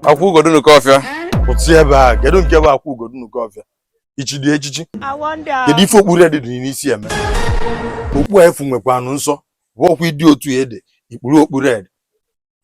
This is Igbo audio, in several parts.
akwụ ugo dị n'oke ọfịa pụta ebe a kedu nke bụ akwụ ugo dị n'oke ọfịa ị chidị echichi kedu ife okpu red dị n'isi eme okpu afụ nwekwanụ nsọ bụ ọkwa ịdị otu ị dị ikpuru okpu red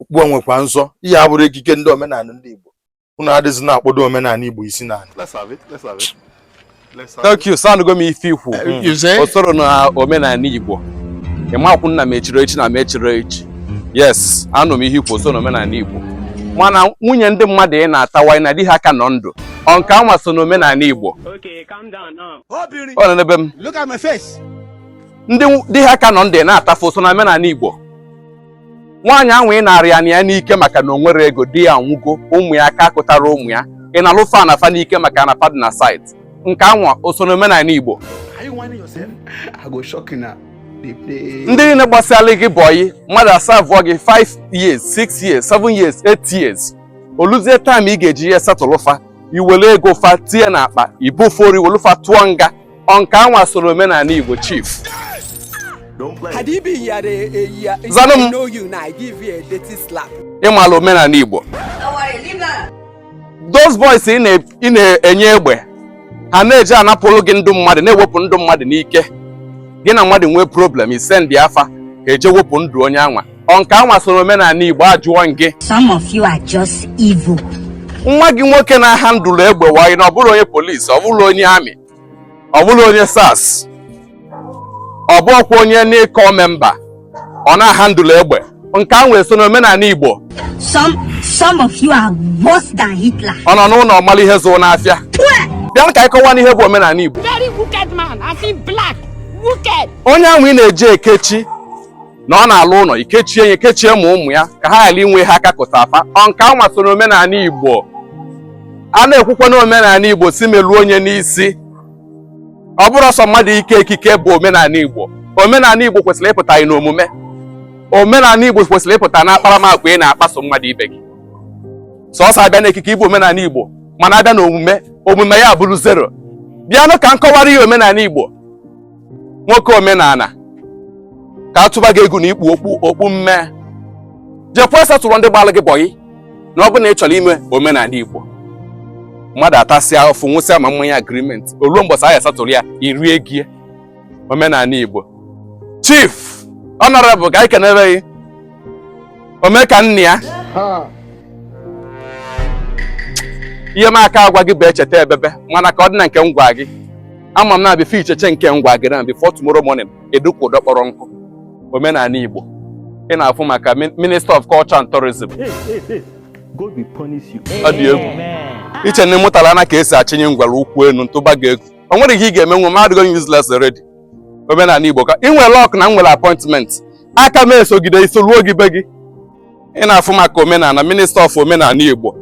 okpu a nwekwa nsọ ihe a abụrụ ekike ndị omenala ndị Igbo unu adịzi na-akpọdo omenala Igbo isi n'ala thank you sir anụgo m ife ikwu eh, o soro hmm. na omenala Igbo ị makwa na m echiri echi na m echiri echi yes anụ m ihe ikwu o soro na omenala Igbo mana nwunye ndị mmadụ ị na-atawa na di ha ka nọ ndụ ọ nke anwa so na omenala Igbo ọ nọ n'ebe m ndị di ha ka nọ ndụ na-atafu so na omenala Igbo nwaanyị anwa ị naara ya ana ya n'ike maka na o nwerọ ego di ya anwụgo ụmụ ya aka akụtara ụmụ ya ị naalụ fa ana fa n'ike maka na ana fa dị na site nke anwa o so n'omenala Igbo ndị niile gbasịara gị bọyị mmadụ a serve gị 5 years 6 years 7 years 8 years o luzie time ị ga-eji ya settle fa i were ego fa tinye n'akpa i bo fa ori welu fa tụọ nga ọ nke anwa soro omenala Igbo chief zanụ m ị mala omenala Igbo those boys ị na-enye egbe ha na-eji anapụrụ gị ndụ mmadụ na-ewepụ ndụ mmadụ n'ike gị na mmadụ nwee problem i send fa ka eje wepụ ndụ onye anwa Ọ nke anwa soro omenala Igbo ajụọ m gị. Some of you are just evil. Nwa gị nwoke na-ahandle egbe while na ọ bụrọ onye police, ọ bụrọ onye army, ọ bụrọ onye SARS, ọ bụrọkwa onye n'ịkọ member, ọ na-ahandle egbe. Nke anwa eso n'omenala Igbo. Some some of you are worse than Hitler. Ọ nọ n'ụlọ malụ ihe zụrụ n'afịa. Bịa ka anyị kọwanụ ihe bụ omenala Igbo. Very wicked man, I see black, wicked. Onye anwa ị na-eji ekechi na ọ na-alụ ụlọ ikechie ya ikechie ma ụmụ ya ka ha ghara inwe ha aka kụta afa ọ nke anwa so n'omenala Igbo a na-ekwukwa n'omenala Igbo si meluo onye n'isi ọ bụrọ sọ mmadụ ike ekike bụ omenala Igbo omenala Igbo kwesịrị ịpụta anyị n'omume omenala Igbo kwesịrị ịpụta na akparamagwa ị na-akpaso mmadụ ibe gị sọsọ a bịa na ekike ị bụ omenala Igbo mana a bịa na omume omume ya bụrụ zero bịanụ ka m kọwara ya omenala Igbo nwoke omenala ka a tụba gị egwu na ikpu okpu okpu mme jekwa settle ndị gbalụ gị bọyị na ọ bụ na ị chọrọ ime omenala igbo mmadụ atasịa afụfụ ṅụsịa ma mmanya agreement o luo mbọsị a ya-settle ya i rie ego ya omenala igbo chief honourable ka anyị kenere gị ome ka nna ya ihe m aka agwa gị bụ echeta ebebe mana ka ọ dị na nke m gwa gị ama m na before icheche nke ngwa gị na before tomorrow morning edukwu ụdọ kpọrọ nkụ omenala Igbo ị na-afụ maka Minister of Culture and Tourism ọ dị egwu i che na ị mụtala na ka e si achịnye ngwere ụkwụ elu m tụba gị egwu o nwere ihe ị ga-eme nwe mmadụ gị useless already omenala Igbo ka ị nwere luck na m nwere appointment aka m esogide gị soruo gị be gị ị na-afụ maka omenala Minister of omenala Igbo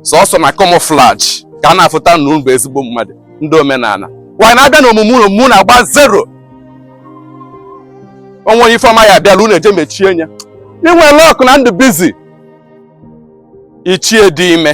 sọsọ na camouflage ka a na-afụta na unu bụ ezigbo mmadụ ndị omenala wanyị na-abịa na omume unu na-agba zero o nwee onye ife ọma ya abịala unu eje mechie anya i nwere luck na m dụ busy ichie dị ime